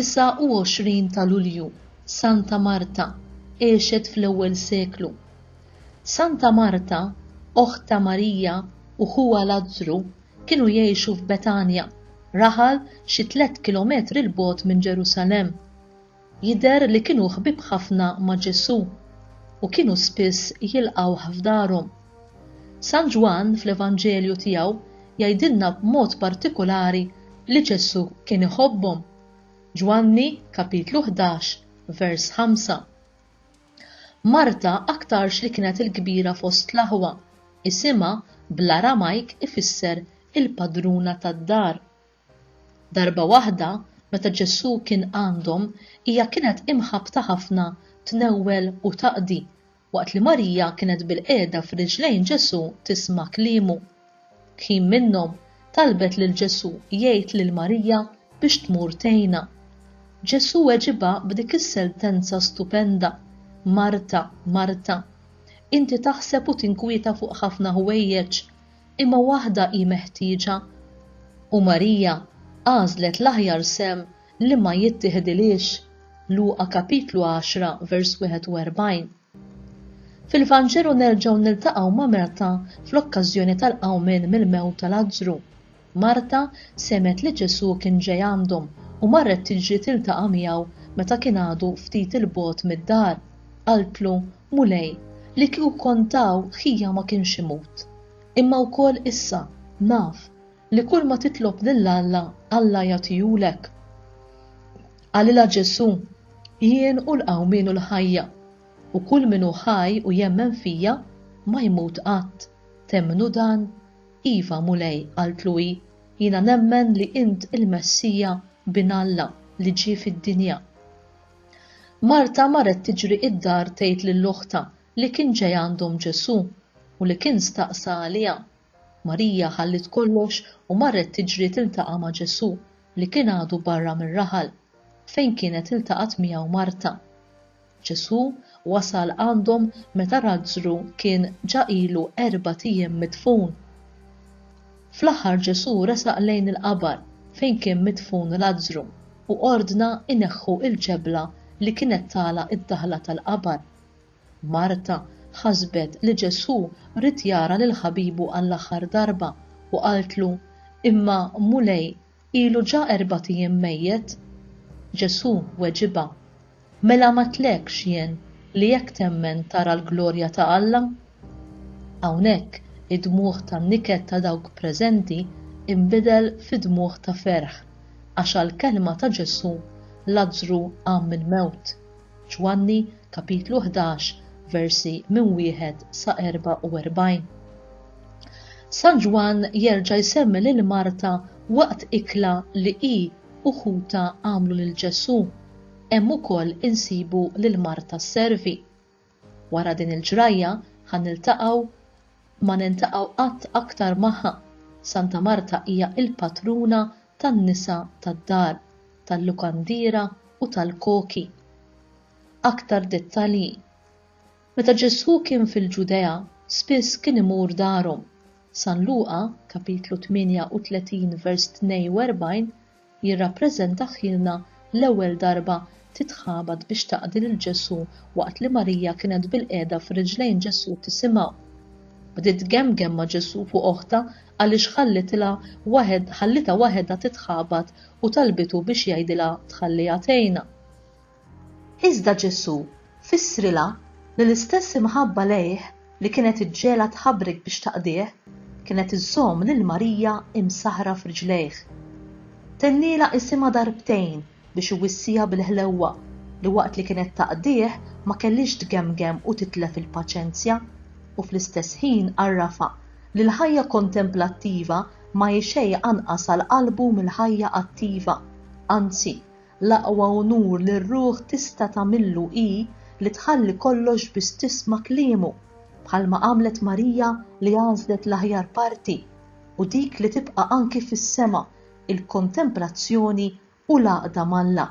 29 ta' Lulju, Santa Marta, għexet fl-ewwel seklu. Santa Marta, oħt ta' Marija u ħuha Lazzru kienu jgħixu f'Betanja, raħal xi tliet kilometri 'l bogħod minn Ġerusalemm. Jidher li kienu ħbieb ħafna ma' Ġesù u kienu spiss jilqgħuh f'darhom. San Ġwann fl-Evanġelju tiegħu jgħidilna b'mod partikulari li Ġesù kien iħobbhom, Ġwanni kapitlu ħdax vers ħamsa. Marta aktarx li kienet il-kbira fost l-aħwa, isimha bl-Aramajk ifisser il-padruna tad-dar. Darba waħda, meta Ġesù kien għandhom, hija kienet imħabbta ħafna tnewwel u taqdi, waqt li Marija kienet bilqiegħda f'riġlejn Ġesù tisma' kliemu. Kħin minnhom, talbet lil Ġesù jgħid lil Marija biex tmur tgħinha. Ġesù weġibha b'dik is-seltenza stupenda, Marta, Marta, inti taħseb u tinkwieta fuq ħafna ħwejjeġ, imma waħda hi meħtieġa. U Marija għażlet l-aħjar sehem li ma jittiħidilhiex, Luqa kapitlu 10 vers 41. Fil-Vanġelu nerġgħu niltaqgħu ma' Marta fl-okkażjoni tal-qawmien mill-mewt ta' Lazzru. Marta semgħet li Ġesù kien ġej għandhom u marret tiġri tiltaqa' miegħu meta kien għadu ftit 'il bogħod mid-dar. Qaltlu, Mulej, li kieku kont hawn ħija ma kienx imut. Imma wkoll issa, naf, li kulma titlob lil Alla, Alla jagħtihulek. Qalilha Ġesù, Jien hu l-qawmien u l-ħajja, u kull min hu ħaj u jemmen fija, ma jmut qatt. Temmnu dan? Iva, Mulej, qaltlu hi, jiena nemmen li int il-Messija, Bin Alla, li ġie fid-dinja. Marta marret tiġri id-dar tgħid lil oħtha li kien ġej għandhom Ġesù u li kien staqsa għaliha. Marija ħalliet kollox u marret tiġri tiltaqa' ma' Ġesù li kien għadu barra mir-raħal, fejn kienet iltaqgħet miegħu Marta. Ġesù wasal għandhom meta Lazzru kien ġa ilu erbat ijiem midfun. Fl-aħħar Ġesù resaq lejn il-qabar fejn kien midfun Lazzru u ordna jneħħu l-ġebla li kienet tagħlaq id-daħla tal-qabar. Marta ħasbet li Ġesù ried jara lil ħabibu għall-aħħar darba u qaltlu, Imma, Mulej, Ilu ġa erbat ijiem mejjet? Ġesù weġibha, Mela m'għedtlekx jien li jekk temmen tara l-glorja ta' Alla? Hawnhekk id-dmugħ tan-niket ta' dawk preżenti inbidel fi dmugħ ta' ferħ għax għall-kelma ta' Ġesù Lazzru qam mill-mewt. Ġwanni, kapitlu 11, versi minn wieħed sa 44. San Ġwann jerġa' jsemmi lil Marta waqt ikla li hi u ħutha għamlu lil Ġesù. Hemm ukoll insibu lil Marta sservi. Wara din il-ġrajja ħa niltaqgħu ma nintaqgħu qatt aktar magħha. Santa Marta hija l-patruna tan-nisa tad-dar, tal-lukandiera u tal-koki. Aktar dettalji, Meta Ġesù kien fil-Ġudea, spiss kien imur darhom. San Luqa, kapitlu 38 vers 42, jirrappreżentaħilna l-ewwel darba titħabat biex taqdi lil Ġesù waqt li Marija kienet bilqiegħda f'riġlejn Ġesù tisimgħu. Bdiet tgemgem ma' Ġesù fuq oħtha għaliex ħallitilha waħed ħallitha waħedha titħabat u talbitu biex jgħidilha tħalliha tgħinha. Iżda Ġesù fissrilha li l-istess imħabba lejh li kienet iġġegħlha tħabrek biex taqdih, kienet iżżomm lil Marija imsaħħra f'riġlejh. Tennielha isimha darbtejn biex iwissiha bil-ħlewwa li waqt li kienet taqdih ma kellhiex tgemgem u titlef il-paċenzja, u fl-istess ħin għarrafha li l-ħajja kontemplattiva ma hi xejn anqas għal qalbu mill-ħajja attiva, anzi, l-aqwa unur li r-ruħ tista' tagħmillu hi li tħalli kollox biss tisma' kliemu, bħalma għamlet Marija li għażlet l-aħjar parti, u dik li tibqa' anki fis-sema, il-kontemplazzjoni u l-għaqda ma' Alla.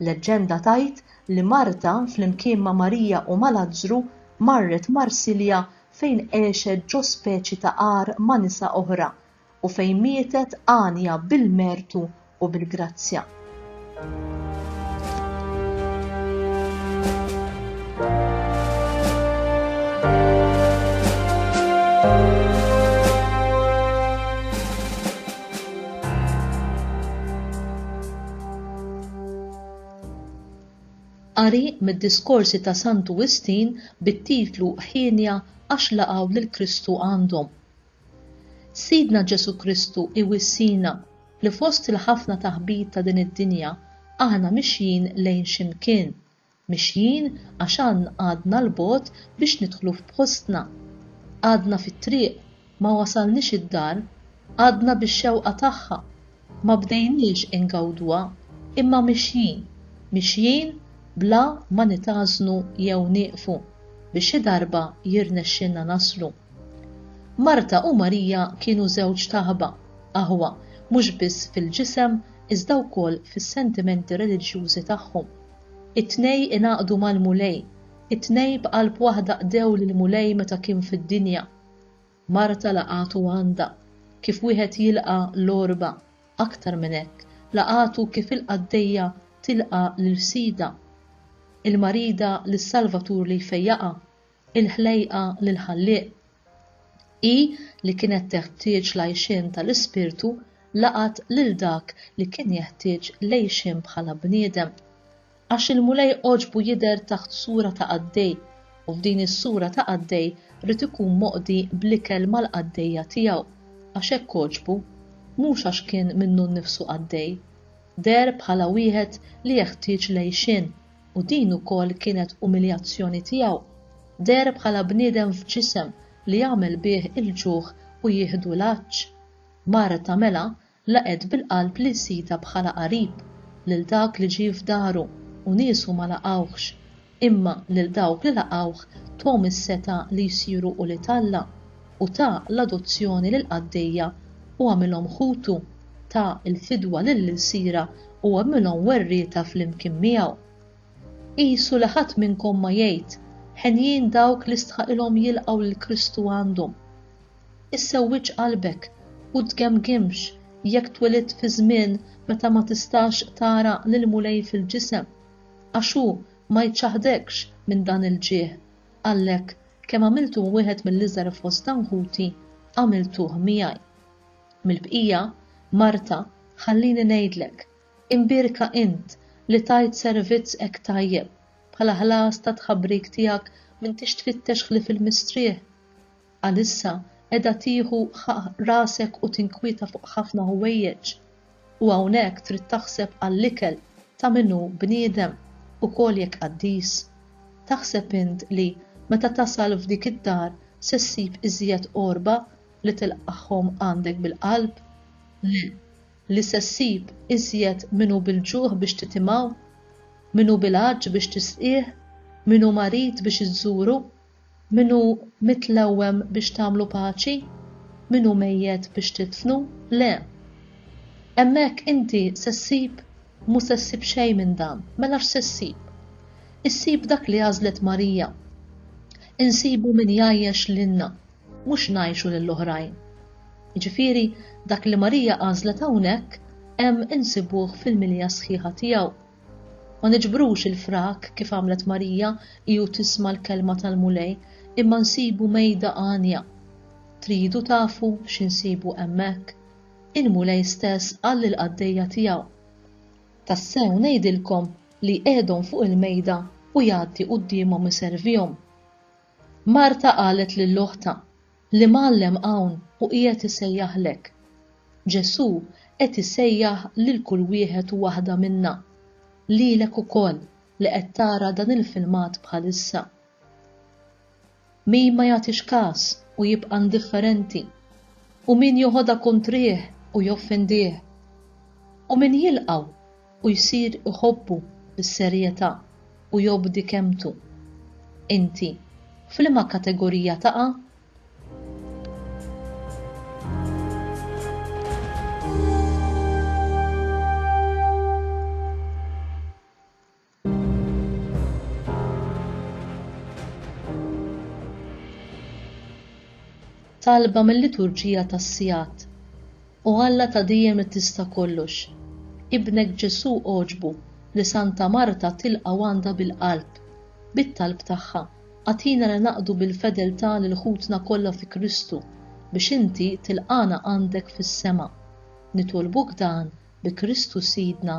Leġġenda tgħid li Marta flimkien ma' Marija u ma' Lazzru marret Marsilja fejn għexet ġo speċi ta' għar ma' nisa oħra u fejn mietet għanja bil-mertu u bil-grazzja. Qari mid-diskorsi ta' Santu Wistin bit-titlu Hienja għax laqgħu lil Kristu għandhom. Sidna Ġesù Kristu iwissina li fost il-ħafna taħbit ta' din id-dinja aħna mixjin lejn xi mkien, Mexjin għax għadna 'l bogħod biex nidħlu f'postna. Għadna fit-triq, ma wasalniex id-dar, għadna bix-xewqa tagħha, ma bdejniex ingawduha, imma mexjin, mexjin bla ma nitgħażżnu jew nieqfu, biex xi darba jirnexxilna naslu. Marta u Marija kienu żewġ taħba, aħwa mhux biss fil-ġisem iżda wkoll fis-sentimenti reliġjużi tagħhom. It-tnej ingħaqdu mal-Mulej, it-tnej b'qalb waħda qdew lill-Mulej meta kien fid-dinja. Marta laqgħatu għandha, kif wieħed jilqa' l-għorba, aktar minn hekk, laqgħatu kif il-qaddejja tilqa' lil sidha. Il-marida lis-Salvatur li jfejjaqha, il-ħlejqa lill-Ħallieq, hi li kienet teħtieġ l-għajxien tal-ispirtu laqgħet lil dak li kien jeħtieġ l-għejxien bħala bniedem. Għax il-Mulej għoġbu jidher taħt sura ta' qaddej, u f'din is-sura ta' qaddej ried ikun moqdi bl-ikel mal-qaddejja tiegħu, għax hekk għoġbu, mhux għax kien minnu nnifsu qaddej. Deher bħala wieħed li jeħtieġ l-għejxien u din ukoll kienet umiljazzjoni tiegħu, deher bħala bniedem f'ġisem li jagħmel bih il-ġuħ u jieħdu l-għatx. Marta mela laqgħet bil-qalb lil sidha bħala qarib, lil dak li ġie f'daru u niesu ma laqgħuhx, imma lil dawk li laqgħuh tuhom is-setgħa li jsiru ulied Alla, u ta l-adozzjoni lill-qaddejja u għamilhom ħutu, ta l-fidwa lill-ilsiera u għamilhom werrieta flimkien miegħu. Qisu li ħadd minnkom ma jgħid, Henjin dawk li stħaqilhom jilqgħu lil Kristu għandhom. Issewwiġ qalbek u tgemgimx jekk twilidt fi żmien meta ma tistax tara lill-Mulej fil-ġisem, għax hu ma jċaħħdekx minn dan il-ġieħ, għalhekk Kemm għamiltu wieħed mill-iżgħar fost anħuti, għamiltuh miegħi. Mill-bqija, Marta, ħallini ngħidlek, imbierka int li tajt servizz hekk tajjeb, bħala ħlas tat-tħabbrik tiegħek m'intix tfittex ħlief il-mistrieħ. Għalissa qiegħda tieħu ħaqq rasek u tinkwieta fuq ħafna ħwejjeġ. u hawnhekk trid taħseb għall-ikel ta' min hu bniedem ukoll jekk qaddis. Taħseb int li meta tasal f'dik id-dar se ssib iżjed qorba li tilqagħhom għandek bil-qalb? Le, li se ssib iżjed min hu bil-ġuħ biex titimgħu, min hu bil-għatx biex tisqih, min hu marid biex iżżuru, Min hu mitlewwem biex tagħmlu paċi? Min hu mejjet biex tidfnu? Le! Hemmhekk inti se ssib, mhu se ssib xejn minn dan. Mela x'se ssib? Issib dak li għażlet Marija. Insibu min jgħajjex lilna, mhux ngħajxu lill-oħrajn. Jiġifieri, dak li Marija għażlet hawnhekk hemm insibuh fil-milja sħiħa tiegħu. Ma niġbrux il-frak kif għamlet Marija hi u tisma' l-kelma tal-Mulej, imma nsibu mejda għanja. Tridu tafu xi nsibu hemmhekk? Il-Mulej stess qal lill-qaddejja tiegħu, Tassew ngħidilkom li jqiegħdhom fuq il-mejda u jgħaddi quddiemhom iservihom. Marta qalet lil oħtha, L-Imgħallem hawn u qiegħed isejjaħlek. Ġesù qed isejjaħ lil kull wieħed u waħda minna, lilek ukoll li qed tara dan il-filmat bħalissa. Min ma jagħtix kas u jibqa' indifferenti, u min joħodha kontrih u joffendih, u min jilqgħu u jsir iħobbu s-serjetà u jobdi kelmtu. Inti f'liema kategorija taqa'? Talba mil-liturġija tas-sigħat. O Alla ta' dejjem li tista' kollox, Ibnek Ġesù għoġbu li Santa Marta tilqa' u għandha bil-qalb. Bit-talb tagħha, agħtina li naqdu bil-fedeltà lil ħutna kollha fi Kristu, biex inti tilqagħna għandek fis-sema. Nitolbuk dan bi Kristu Sidna.